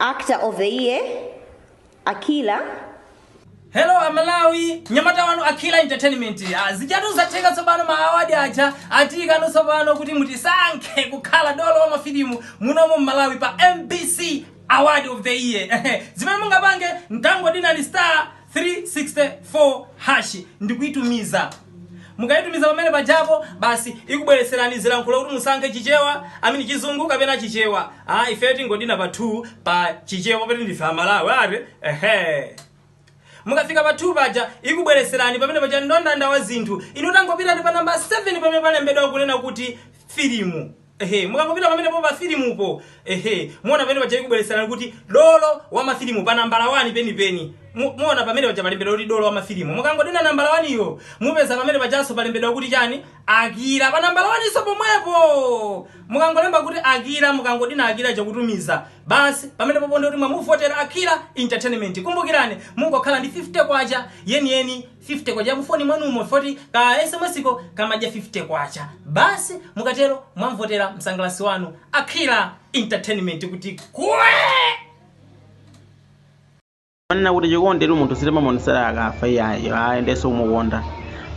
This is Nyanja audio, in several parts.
Actor of the Year, Akila. Hello Amalawi, nyamata wanu Akila Entertainment. Ah, Zijatu zatheka tsopano ma award aja atipeza tsopano kuti mutisankhe kukhala dolo wa mafilimu muno mu Malawi pa MBC Award of the Year. Zimene mungapange mungodina ni star 364# ndikuitumiza mukaitumiza pamene pajapo basi ikubweretserani zilankhulo kuti musankhe chichewa amini chizungu kapena chichewa ah ife tingodina pa 2 pa chichewa popeza ndife amalawi eti ehe mukafika pa 2 paja ikubweretserani pamene paja mndandanda wa zinthu inu tangopitani pa namba 7 pamene palembedwa kunena kuti filimu Ehe, mukangopita pamenepo pa filimupo, ehe, muona pamene paja ikubweretserani kuti dolo wa mafilimu pa nambala 1 penipeni. Mu- Muona pamene paja palembedwa kuti dolo wa mafilimu. Mukangodina nambala 1 iyo, mupeza pamene pajanso palembedwa kuti chani? Akira. Pa nambala 1 nso pomwepo. Mukangolemba kuti Akira, mukangodina Akira ndikutumiza. Basi, pamene popo ndi kuti mwamuvotera Akira Entertainment. Kumbukirani, mungokhala ndi 50 kwacha yeniyeni K50 yakufoni mwanumo chifukwa choti ka sms ka kamadya K50 basi. Mukatero mwamvotera msangalatsi wanu Akira Entertainment kuti kwee! Amanena kuti chikonditu munthu sitimamuonesera akafa iyayi ayi nde sikumukonda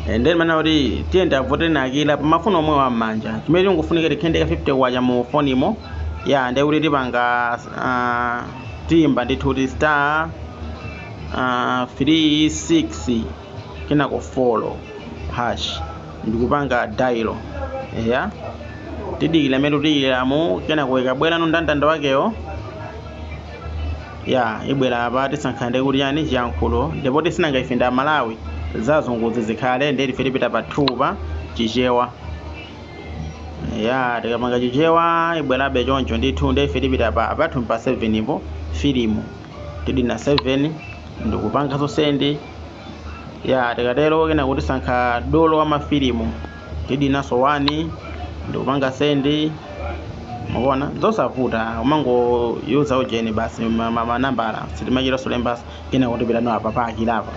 Eh, nde manena kuti tiyeni tiavotere akira pamafoni omwewa m'manja chimene chikufunika tikhale ndi ka 50 kwacha mu fonimo ya nde kuti tipanga ah, tiyimba ndithu kuti star uh, 3 6 kenako 4 hash ndikupanga dial eya tidikira mmene tidikiramo kenako ikubwerano mndandanda wakewo ya ibwera apa tisankha ndithu chani chiyankhulo ndipo tisanama ife ndi amalawi zazunguzi zikhale nde ife tipita pa 2 pa chichewa ya tikapanga chichewa ibwerabe choncho ndithu nde ife tipita pa apathu pa 7 po filimu tidina 7 ndikupanga send ya tikatero kenako tisankha dolo wa mafilimu tidinaso 1 ndikupanga send mukuona zosavuta umangoyuser ujeni basi manambala sitimachita solembaso kenako tipitano apa pa akira apa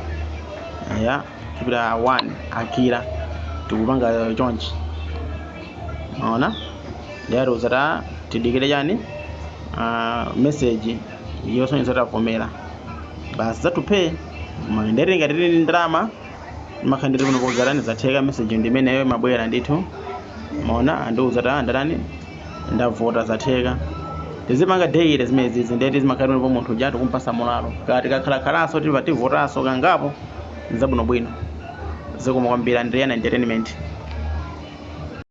ya tipita 1 akira ndikupanga chonchi mwaona ndiye atiuza kuti tidikire chani uh, message yosonyeza kuti tavomera basi zaphweka koma ndati ngati tili ndi ndalama imakhala ndithu kuti zatani zatheka message ndi imeneyo imabwera ndithu mwaona andiuza kuti ndatani ndavota zatheka tizipanga daily zimezi zina eti zimakhala ndipo munthu uja tikumpasa mulalo ati tikakhalakhalanso tipa tivotanso kangapo zabwinobwino zikomo kwambiri ndine Akira entertainment